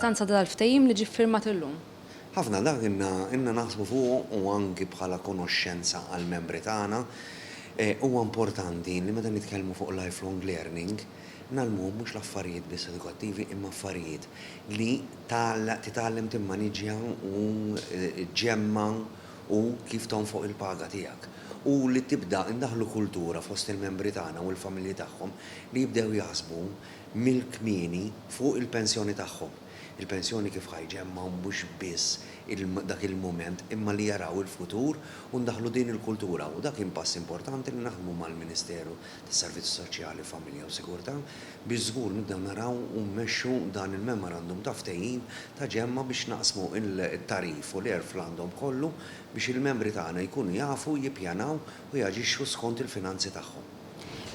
L-importanza ta' dal-ftehim li ġie ffirmat illum. Ħafna dak ilna naħsbu fuqu u anki bħala konoxxenza għall-membri tagħna. Huwa importanti li meta nitkellmu fuq lifelong learning ngħallmuhom mhux l-affarijiet biss edukattivi imma affarijiet li titgħallem timmaniġja u ġġemma' u kif tonfoq il-paga tiegħek, u li tibda indaħħlu kultura fost il-membri tagħna u l-familji tagħhom li jibdew jaħsbu mill-kmieni fuq il-pensjoni tagħhom. Il-pensjoni kif ħa jġemmgħu mhux biss dak il-mument imma li jaraw il-futur u ndaħħlu din il-kultura u dak kien pass importanti li naħdmu mal-Ministeru tas-Servizzi Soċjali, Familja u Sigurtà, biex żgur nibdew naraw u mmexxu dan il-memorandum ta' ftehim ta' ġemma biex naqsmu t-tagħrif u l-għerf l-għandhom kollu biex il-membri tagħna jkunu jafu jippjanaw u jaġixxu skont il-finanzi tagħhom.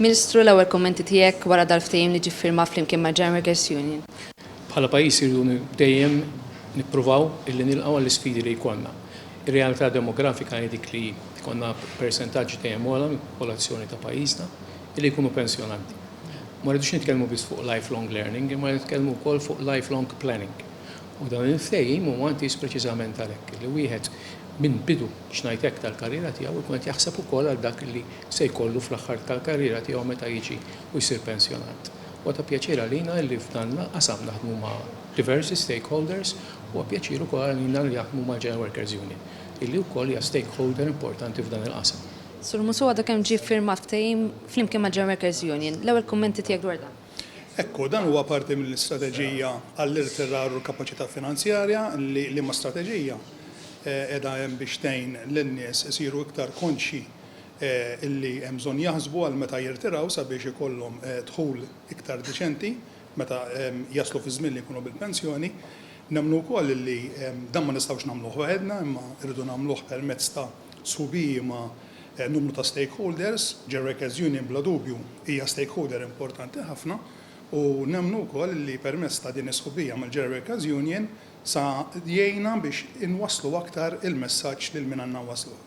Ministru, l-ewwel kummenti tiegħek wara dal-ftehim li ġie ffirmat flimkien mal-General Workers Union? Bħala pajjiż irridu dejjem nippruvaw illi nilqgħu għall-isfidi li jkollna. Ir-realtà demografika hi dik li jkollna persentaġġ dejjem ogħla mill-popolazzjoni ta' pajjiżna li jkunu pensjonanti. Ma rridux nitkellmu biss fuq lifelong learning imma nitkellmu wkoll fuq lifelong planning. U dan il-ftehim huwa intiż preċiżament għalhekk, li wieħed minn bidu, biex ngħid hekk, tal-karriera tiegħu jkun qed jaħseb ukoll għal dak li se jkollu fl-aħħar tal-karriera tiegħu meta jiġi u jsir pensjonant. Huwa ta' pjaċir għalina li f'dan l-qasam naħdmu ma' diversi stakeholders, huwa pjaċir ukoll għalina li naħdmu mal-General Workers Union, illi wkoll hija stakeholder importanti f'dan il-qasam. Sur Musso, għadu kemm ġie ffirmat ftehim flimkien mal-General Workers Union. L-ewwel kummenti tiegħek dwar dan? Hekk hu, dan huwa parti mill-istrateġija għall-irtirar u l-kapaċità finanzjarja li liema strateġija qiegħda hemm biex tgħin lin-nies isiru iktar konxji illi hemm bżonn jaħsbu għal meta jirtiraw sabiex ikollhom dħul iktar diċenti meta jaslu fiż-żmien li jkunu bil-pensjoni. Nemmnu wkoll illi dan ma nistgħux nagħmluh waħedna imma rridu nagħmluh permezz ta' sħubiji ma' numru ta' stakeholders. Ġerrekez Union bla dubju hija stakeholder importanti ħafna u nemmnu wkoll illi permezz ta' din is-sħubija mal-Ġerrekez Union sa jgħinna biex inwasslu aktar il-messaġġ lil min għandna nwassluh.